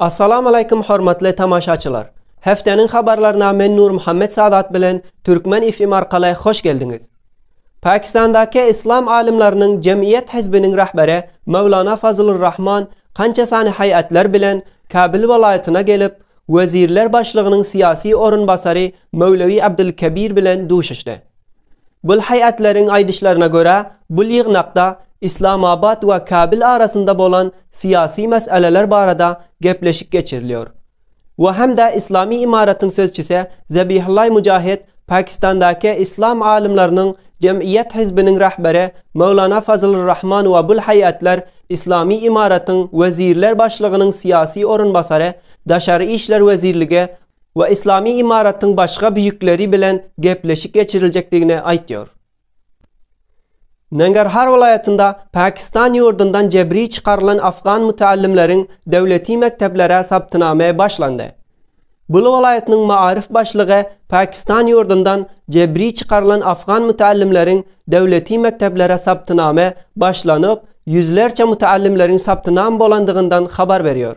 Assalamu Aleýkum hormatly tamaşaçylar! Hefteniň habarlaryna men Nurmuhammet Sadat bilen Türkmen FM arkaly hoş geldiňiz! Pakistandaky Yslam alymlarynyň jemgyýet hizbiniň rahberi Mewlana Fazlur Rahman kança sany haýatlar bilen Kabyl welaýatyna gelip, wezirler başlygynyň syýasy orunbasary Mewlewi Abdul Kebir bilen duşuşdy. Gülhaýatleriň aýdyşlaryna görä, bu ýygnakda Islamabad we Kabil arasynda bolan syýasy meseleler barada gepleşik geçirilýär. Bu hem-de yslamy imaratyň sözçüsi Zabihullaý Mujahed Pakistandaky yslam alymlarynyň jemgyýet hizbiniň rahberi Möwlana Fazlur Rahman we Gülhaýatlar yslamy imaratyň wezirler başlygynyň syýasy orunbasary daşary işler wezirligi we Yslamy Imaratyň başga büyükleri bilen gepleşik geçiriljekdigini aýtýar. Nangarhar welaýatynda Pakistan ýurdundan jebri çykarylan afgan mütällimleriň döwleti mekdeplere saptynamy başlandy. Bul welaýatynyň Maaryf başlygy Pakistan ýurdundan jebri çykarylan afgan mütällimleriň döwleti mekdeplere saptynamy başlanyp, ýüzlerçe mütällimleriň saptynam bolandygyndan habar berýär.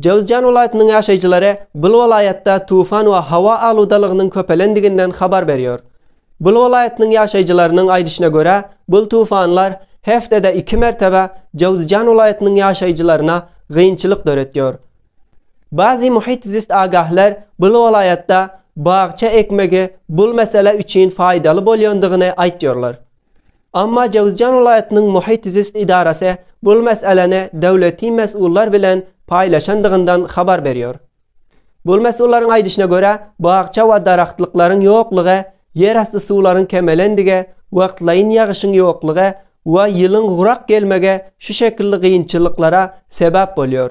Jowzjan welaýatynyň ýaşaýjylary bul welaýatda tufan we howa aludalygynyň köpelendiginden habar berýär. Bul welaýatynyň ýaşaýjylarynyň aýdyşyna görä, bul tufanlar hepdede iki mertebe Jowzjan welaýatynyň ýaşaýjylaryna gynçylyk döretýär. Bazi muhit zist agahler bul welaýatda bagça ekmegi bul mesele üçin faýdaly bolýandygyny aýtýarlar. Emma Jöwüzjan welaýatynyň Muhit-zist edarasy bu meseläni döwleti mesullar bilen paýlaşandygyndan habar berýär. Bu mesullaryň aýdyşyna görä, bakja we daragtlyklaryň ýoklugy ýerasty suwlaryň kemelendigi, wagtlaýyn ýagyşyň ýoklugy we ýylyň gurak gelmegi şu şekilli gynçylyklara sebäp bolýar.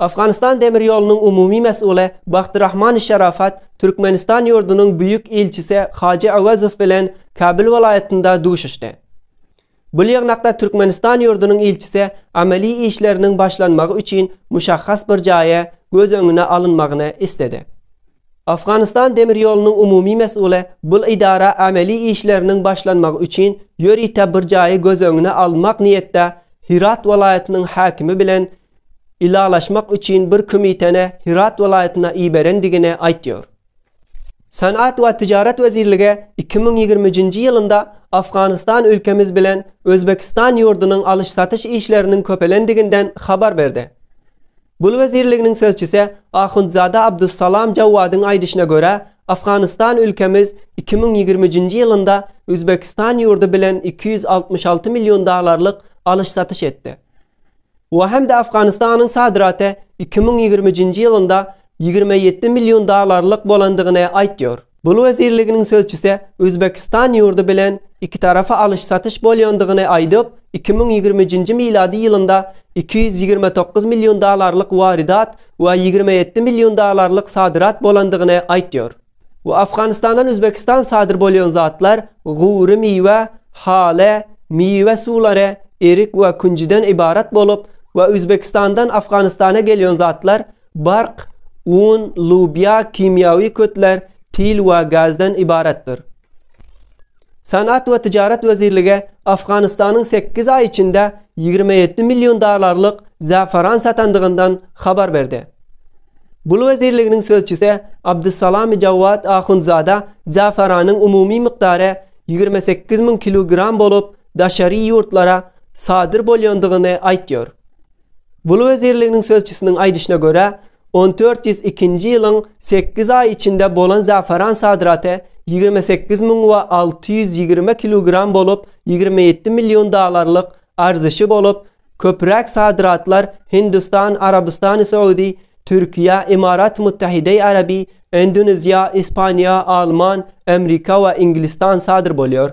Afganistan demir ýolunyň umumy mesguly Bahtirahman Şarafat Türkmenistan ýurdunyň Büýük ilçisi Hajy Awazow bilen Kabul welaýatynda duşuşdy. Bu ýygnakda Türkmenistan ýurdunyň ilçisi amaly işleriniň başlanmagy üçin muşahhas bir jaýy göz öňüne alynmagyny isledi. Afganistan demir ýolunyň umumy mesguly bul idara amaly işleriniň başlanmagy üçin ýörite bir jaýy göz öňüne almak niýetde Hirat welaýatynyň häkimi bilen ylalaşmak üçin bir kümiteni Hyrat welaýatyna iberendigini aýtýar. Senat we Tijaret wezirligi iki müň ýigrimi üçünji ýylynda Afganystan ülkemiz bilen Özbekistan ýurdunyň alyş-satyş işleriniň köpelendiginden habar berdi. Gul wezirliginiň sözçüsi Ahundzada Abdussalam Jawwadyň aýdyşyna görä, Afganystan ülkemiz iki müň ýigrimi üçünji ýylynda Üzbekistan ýurdy bilen iki ýüz altmyş alty million dollarlyk alyş-satyş etdi. we hem-de Afganistanyň sadraty iki müň ýigriminjinji ýylynda ýigrimi ýedi million dollarlyk bolandygyny aýtýar. Bul wezirliginiň sözçüsi Özbekistan ýurdy bilen ikitarapy alyş-satyş bolýandygyny aýdyp, iki müň ýigriminjinji milady ýylynda iki ýüz ýigrimi dokuz million dollarlyk waridat we ýigrimi ýedi million dollarlyk sadrat bolandygyny aýtýar. Bu Afganistandan Uzbekistan sadyr bolýan zatlar gury miwe, hale, miwe suwlary, erik we künjüden ybarat bolup we Uzbekistandan Afganistana gelýän zatlar bark, un, lubýa, kimýawi kötler, pil we gazdan ybaratdyr. Senat we Tijaret wezirligi Afganistanyň sekiz aý içinde ýigrimi ýedi million dollarlyk zäferan satandygyndan habar berdi. Gul wezirliginiň sözçüsi Abdussalami Jawad Ahundzada zäferanyň umumy mukdary ýigrimi sekiz müň kilogram bolup, daşary ýurtlara sadyr bolýandygyny aýtýar. Gul wezirliginiň sözçüsiniň aýdyşyna görä, on dört ýüz ikinji ýylyň sekiz aýy içinde bolan zafaran sadraty ýigrimi sekiz müň we alty ýüz ýigrimi kilogram bolup, ýigrimi ýedi million dollarlyk arzyşy bolup, köpräk sadratlar Hindistan, Arabystany Soudy, Türkiýe, Imarat Muttahideý Arabi, Endoneziýa, Ispaniýa, Alman, Amrika we Inglistan sadr bolýar.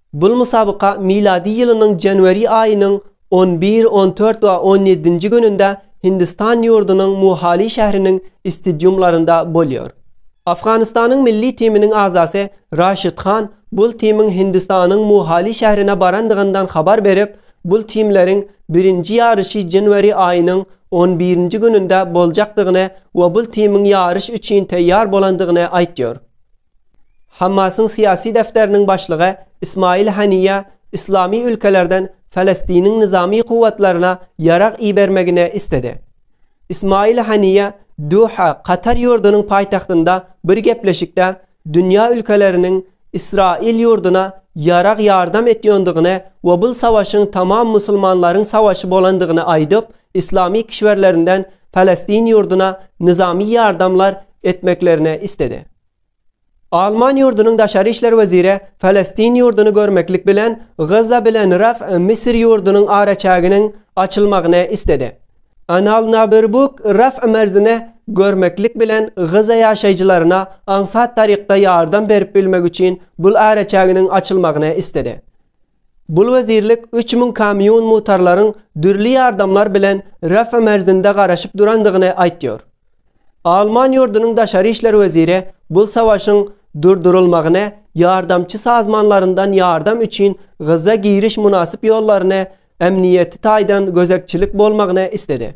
Bul musabyka milady ýylynyň janwari aýynyň on bir, on dört we on ýedinji gününde Hindistan ýurdunyň Muhali şähriniň istidiumlarynda bolýar. Afganystanyň milli timiniň agzasy Raşid Han bul timiň Hindistanyň Muhali şährine barandygyndan habar berip, bul timleriň birinji ýaryşy janwari aýynyň on birinji gününde boljakdygyny we bul timiň ýaryş üçin taýýar bolandygyny aýtýar. Hammasyň syýasy defteriniň başlygy Ismail Haniýa yslamy ülkelerden Falestiniň nyzamy kuwwatlaryna ýarag ibermegini isledi. Ismail Haniýa Duha, Katar ýurdunyň paýtagtynda bir gepleşikde dünýä ülkeleriniň Ysraýyl ýurduna ýarag ýardam etýondygyny we bul savaşyň tamam musulmanlaryň savaşy bolandygyny aýdyp, yslamy kişwerlerinden Falestin ýurduna nyzamy ýardamlar etmeklerini isledi. Alman ýurdunyň daşary işler weziri Palestin ýurduny görmeklik bilen Gaza bilen Raf Misir ýurdunyň araçäginiň açylmagyny istedi. Anal Naberbuk Raf merzini görmeklik bilen Gaza ýaşaýjylaryna aňsat tarykda ýardam berip bilmek üçin bul araçäginiň açylmagyny istedi. Bul wezirlik üç müň kamýun mutarlaryň dürli ýardamlar bilen Rafa merzinde garaşyp durandygyny aýtýar. Alman ýurdunyň daşary işler weziri bul savaşyň durdurylmagyny ýardamçy sazmanlaryndan ýardam üçin Gaza giriş mynasyp ýollaryny ämniýeti taýdan gözegçilik bolmagyny isledi.